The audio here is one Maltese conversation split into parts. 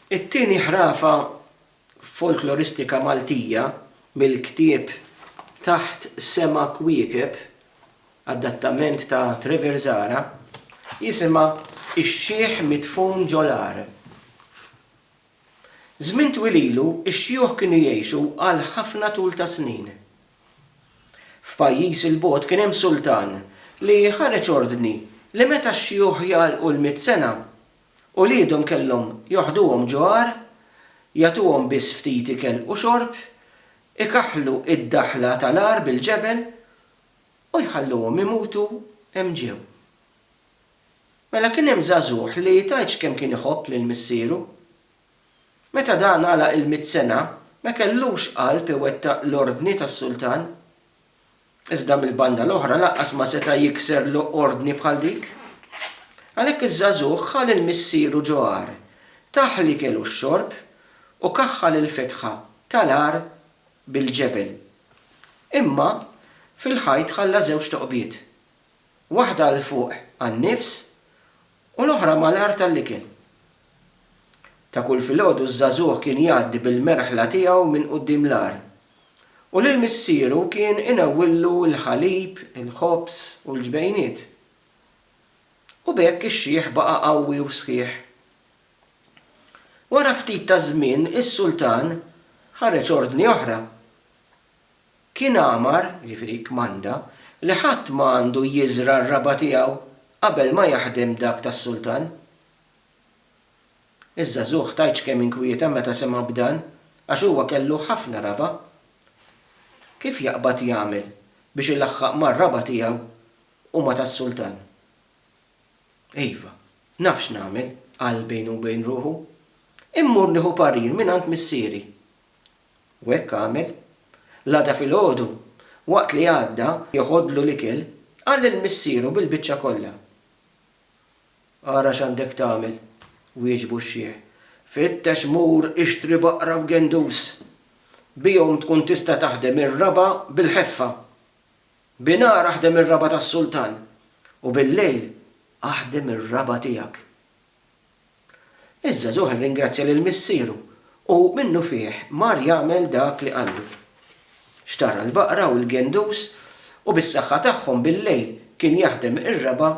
It-tieni ħrafa folkloristika Maltija mill-ktieb Taħt Sema Kwiekeb, adattament ta' Trevor Zahra, jisimha Ix-Xiħ Midfun Ġo L-Għar. Żmien twil ilu, ix-xjuħ kienu jgħixu għal ħafna tul ta' snin. F'pajjiż 'il bogħod kien hemm sultan li ħareġ ordni li meta x-xjuħ jagħlqu l-mitt sena, uliedhom kellhom joħduhom ġo għar, jagħtuhom biss ftit ikel u xorb, ikaħħlu d-daħla tal-għar bil-ġebel u jħalluhom imutu hemm ġew. Mela kien hemm żagħżugħ li tgħidx kemm kien iħobb lil missieru. Meta dan għalaq il-mitt sena, ma kellux qalb iwettaq l-ordni tas-sultan. Iżda mill-banda l-oħra lanqas ma seta' jikser l ordni bħal dik. Għalhekk iż-żagħżugħ ħa lil missieru ġo għar, tah l-ikel u x-xorb u kaħħal il-fetħa ta' l-għar bil-ġebel. Imma fil-ħajt ħalla żewġ toqbiet. waħda 'l fuq għan-nifs u l-oħra mal-art għall-ikel. Ta' kull filgħodu ż-żagħżugħ kien jgħaddi bil-merħla tiegħu minn quddiem l-għar u lil missieru kien inewwillu l-ħalib, il-ħobż u l-ġbejniet. U b'hekk ix-xiħ baqa' qawwi u sħiħ. Wara ftit taż-żmien is-sultan ħareġ ordni oħra. Kien amar, jiġifieri kkmanda, li ħadd ma għandu jiżra' r-raba' tiegħu qabel ma jaħdem dak tas-sultan. Iż-żagħżugħ tgħidx kemm inkwieta meta sema' b'dan, għax huwa kellu ħafna raba'. Kif jaqbad jagħmel biex ilaħħaq mar-raba' tiegħu u ma' tas-sultan? Iva, naf x'nagħmel, qal bejnu u bejn ruħu. Immur nieħu parir mingħand missieri. U hekk għamel. L-għada filgħodu, waqt li għadda joħodlu l-ikel, qal lil missieru bil-biċċa kollha. Ara x'għandek tagħmel, wieġbu x-xiħ. Fittex mur ixtri baqra u gendus. Bihom tkun tista' taħdem ir-raba' bil-ħeffa. Binhar aħdem ir-raba' tas-sultan u bil-lejl aħdem ir-raba' tiegħek. Iż-żagħżugħ irringrazzja lil missieru u minnufih mar jagħmel dak li qallu. Xtara l-baqra u l-gendus u bis-saħħa tagħhom billejl kien jaħdem ir-raba'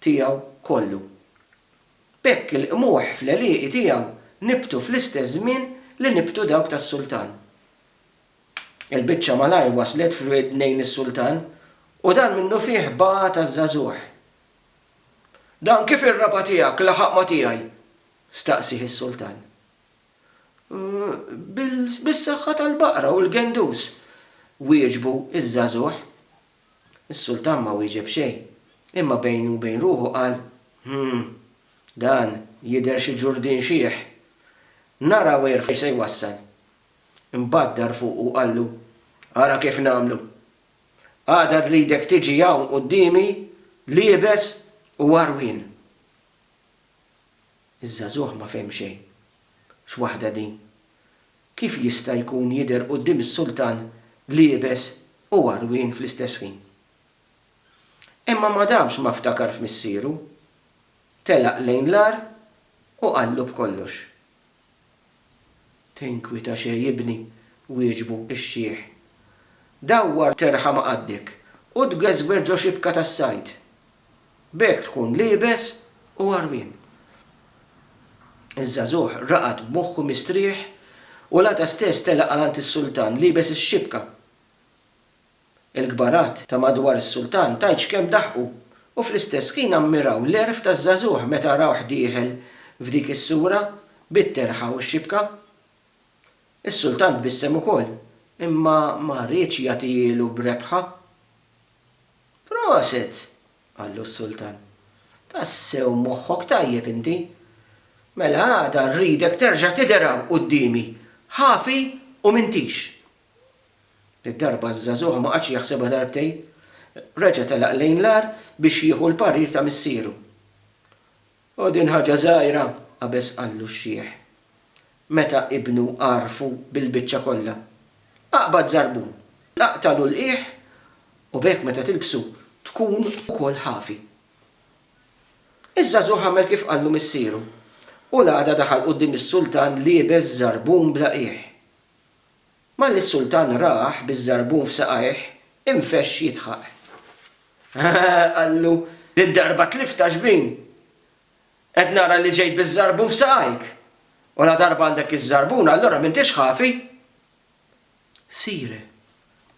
tiegħu kollu. B'hekk il-qmuħ fl-għelieqi tiegħu nibtu fl-istess żmien li nibtu dawk tas-sultan. Il-biċċa malajr waslet f'widnejn is-sultan u dan minnufih bagħat għaż-żagħżugħ Dan kif ir-raba' tiegħek laħaq ma' tiegħi? staqsieh is-sultan. Bis-saħħa tal-baqra u l-gendus, wieġbu ż-żagħżugħ. Is-sultan ma wieġeb xejn, imma bejnu u bejn ruħu qal, Hm, dan jidher xi ġurdien xiħ. Naraw għir fejn se jwassal. Imbagħad dar fuqu u qallu, Ara kif nagħmlu! Għada rridek tiġi hawn quddiemi liebes u għarwien. Iż-żagħżugħ ma fehm xejn. X'waħda din? Kif jista' jkun jidher quddiem is-sultan liebes u għarwien fl-istess ħin? Imma ma damx ma ftakar f'missieru, telaq lejn l-agħar u qallu b'kollox. Tinkwita xejn ibni, wieġbu x-xiħ. Dawwar terħa ma' qaddek u tgeżwer ġo xibka tas-sajd. B'hekk tkun liebes u għarwien. Iż-żagħżugħ raqad b'moħħu mistrieħ u l-għada stess telaq għal għand is-sultan liebes ix-xibka. Il-kbarat ta' madwar is-sultan tant x'kemm daħqu u fl-istess ħin ammiraw l-għerf taż-żagħżugħ meta rawh dieħel f'dik is-sura bit-terħa u x-xibka. Is-sultan tbissem ukoll, imma ma riedx jagħtihielu b'rebħa. Proset! qallu s-sultan. Tassew moħħok tajjeb inti. Mela għada rridek terġa' tidher hawn quddiemi, ħafi u m'intix. Did-darba ż-żagħżugħ ma qagħadx jaħsebha darbtejn. Reġa' telaq lejn l-għar biex jieħu l-parir ta' missieru. O din ħaġa żgħira! qabeż qallu x-xiħ, meta ibnu għarrfu bil-biċċa kollha. Aqbad żarbun, aqtagħlu l-qiegħ u b'hekk meta tilbsu tkun ukoll ħafi. Iż-żagħżugħ għamel kif qallu missieru u l-għada daħal quddiem is-sultan liebeż żarbun bla qiegħ. Malli s-sultan rah biż-żarbun f'saqajh, infexx jidħaq. Qallu, Did-darba tlift għax-xbin! Qed nara li ġejt biż-żarbun f'saqajk! U ladarba għandek iż-żarbun, allura m'intix ħafi! Sire,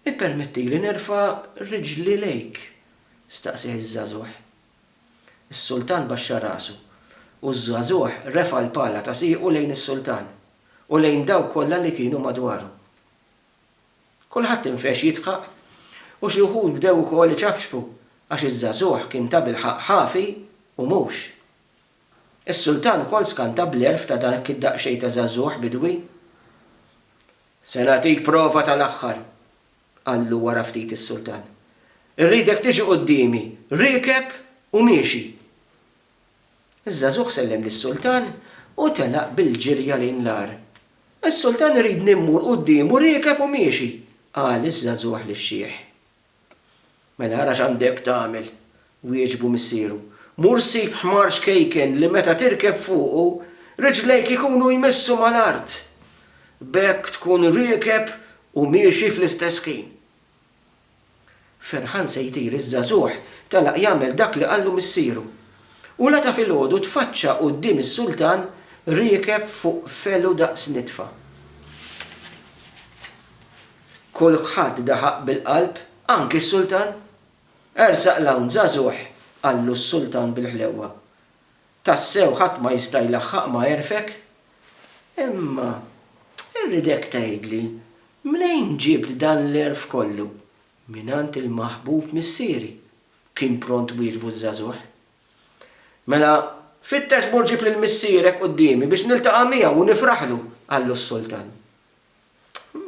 ippermettili nerfa' riġli lejk! staqsieh iż-żagħżugħ. Is-sultan baxxa rasu, u ż-żagħżugħ refa' l-pala ta' siequ lejn is-sultan. u lejn dawk kollha li kienu madwaru. Kulħadd infex jidħaq u xi wħud bdew ukoll iċapċpu għax iż-żagħżugħ kien tabilħaqq ħafi u mhux. Is-Sultan ukoll skanta bl-għerf ta' dak id-daqsxejn ta' żagħżugħ bidwi. Se nagħtik prova tal-aħħar, qallu wara ftit is-Sultan. Irridek tiġi quddiemi riekeb u miexi. Iż-żagħżugħ sellem lis-sultan u telaq bil-ġirja lejn l-għar. Is-sultan iridni mmur quddiemu riekeb u miexi, qal iż-żagħżugħ lix-xiħ. Mela ara x'għandek tagħmel, wieġbu missieru. Mur sib ħmar xkejken li meta tirkeb fuqu, riġlejk ikunu jmissu mal-art. B'hekk tkun riekeb u miexi fl-istess ħin. Ferħan se jtir iż-żagħżugħ telaq jagħmel dak li qallu missieru. U l-għada filgħodu tfaċċa quddiem is-sultan riekeb fuq felu daqs nitfa. Kulħadd daħaq bil-qalb, anki s-sultan. Ersaq 'l hawn żagħżugħ, qallu s-sultan bil-ħlewwa. Tassew ħadd ma jista' jlaħħaq ma' għerfek. Imma rridek tgħidli mnejn ġibt dan l-għerf kollu? Mingħand il-maħbub missieri, kien pront wieġbu ż-żagħżugħ. Mela, fittex mur ġib lil missierek quddiemi biex niltaqa' miegħu u nifraħlu, qallu s-sultan.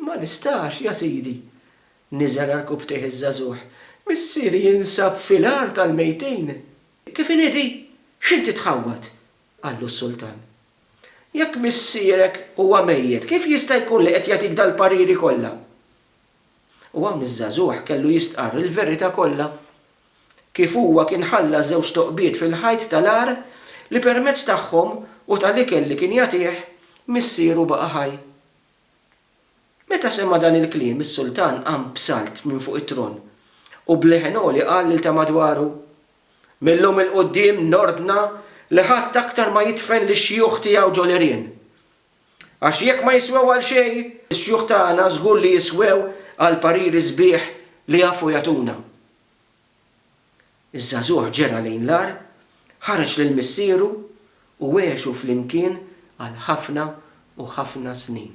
Ma nistax, ja sidi, niżel għarkupptejh iż-żagħżugħ. Missieri jinsab fil-għar tal-mejtin. Kif inhi di? X'int titħawwad? qallu s-sultan. Jekk missierek huwa mejjet, kif jista' jkun li qed jagħtik dal-pariri kollha? U hawn iż-żagħżugħ kellu jistqarr il-verità kollha. Kif huwa kien ħalla żewġ toqbiet fil-ħajt tal-għar li permezz tagħhom u tal-ikel li kien jagħtih, missieru baqa' ħaj. Meta sema' dan il-kliem, is-sultan qam b'salt minn fuq it-tron u b'leħen għoli qal lil ta' madwaru, Mil-lum 'il quddiem nordna li ħadd aktar ma jidfen lix-xjuħ tiegħu ġol-għerien. Għax jekk ma jiswew għal xejn, ix-xjuħ tagħna żgur li jiswew għall-pariri sbieħ li jafu jagħtuna. Iż-żagħżugħ ġera lejn l-għar, ħareġ lil missieru u għexu flimkien għal ħafna u ħafna snin.